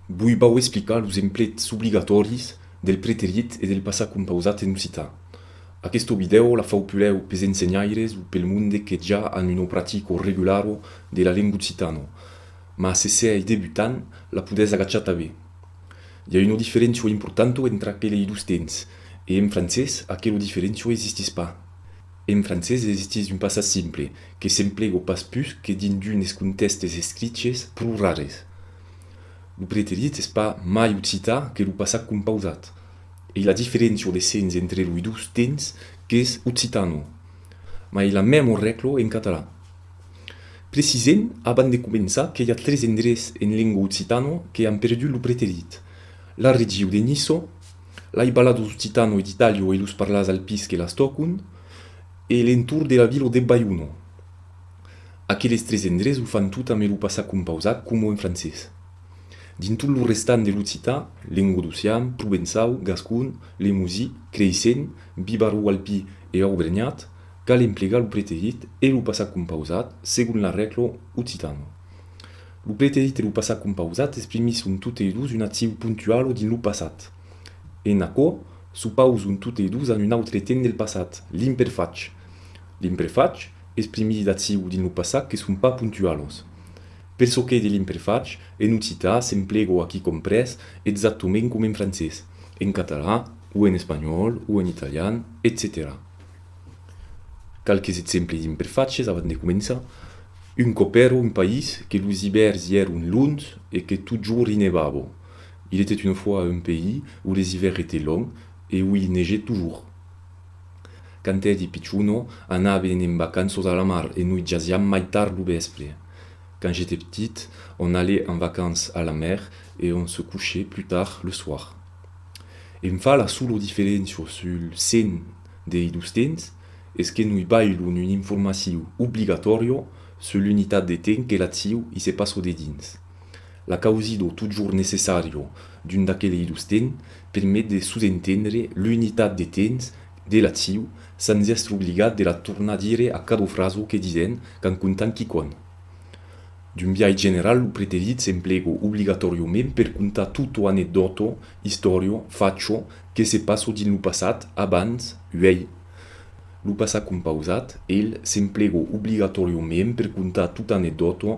Voi vau explicar los emplets obligatòris del preterit e del passat compausat en occitan. Aquesta vidèo la fau pulèu pes ensenhaires o pel monde que ja an una practica regulara de la lenga occitana, mas se sièi debutant la podètz agachar tanben. I a una diferéncia importanta entre aquela e los temps, e en francés aquela diferéncia existís pas. En francés existís un passat simple, que s'emplega pas pus que dins d'unes contèxtes escriches pro rares. Lo preterit es pas mai occitan que lo passat compausat e la diferencia de sens entre loi dos tens qu'es occitano, mas es la memor reclo en catalan. Precisem abans de començar que i a tres endrets en lengua occitano que an perdut lo preterit, la regiu de Niço, lai ballados occitano e d'Italio e los parlars alpis que las tòcon e l'entorn de la vila de Baiuno. Aqueles tres endrés o fan tot ame lo passat compausat coma en francés. Dins tot lo restant de l'occitan, lengodocian, provençau, gascon, lemosi, creisent, bibarro-alpi e aubrenhat, cal emplegar lo preterit e lo passat compausat segon la règla occitana. Lo preterit e lo passat compausat exprimisson totei dos una accion pontuala dins lo passat. En aquò, s'opauson totei dos a un autre temps del passat, l'imperfach. L'imperfach, Exprimidi d'aciu dins lo passat que son pas puntualos. Per çò qu'ei de l'imperfach, en occitan s'emplego aquí comprés exactament coma en francés, en catalan o en espanhòl o en italian, etcetèra. Qualques exemples d'imperfaches avant de començar, Un còp èra un país que los ivèrns i èron longs e que totjorn i nevava. Il était une fois un pays où les hivers étaient longs et où il neigeait toujours. Quand èri pichona, anaven en vacanças a la mar e noi jasiam mai tard lo vèspre. Quand j'étais petit, on allait en vacances à la mer e on se couchait plus tard le soir. Em fa la sola diferéncia sul sen dei dos temps es que noi bailon un informaciu obligatòria sul l'unitat de temps que l'aciu i se passa dedins. La causido totjorn necessario d'un d'aquelei dos temps permet de sosentendre l'unitat de temps de l'acciu sens èstre obligat de la tornar dire a cada fraso que disèm qu'an contant quicòm. D'un biais general lo preterit s'emplega obligatòriament per contar tutto anecdòto, istòria, facho que se passa dins lo passat, abans, uèi. Lo passat compausat, el, s'emplega obligatòriament per contar tot anecdòto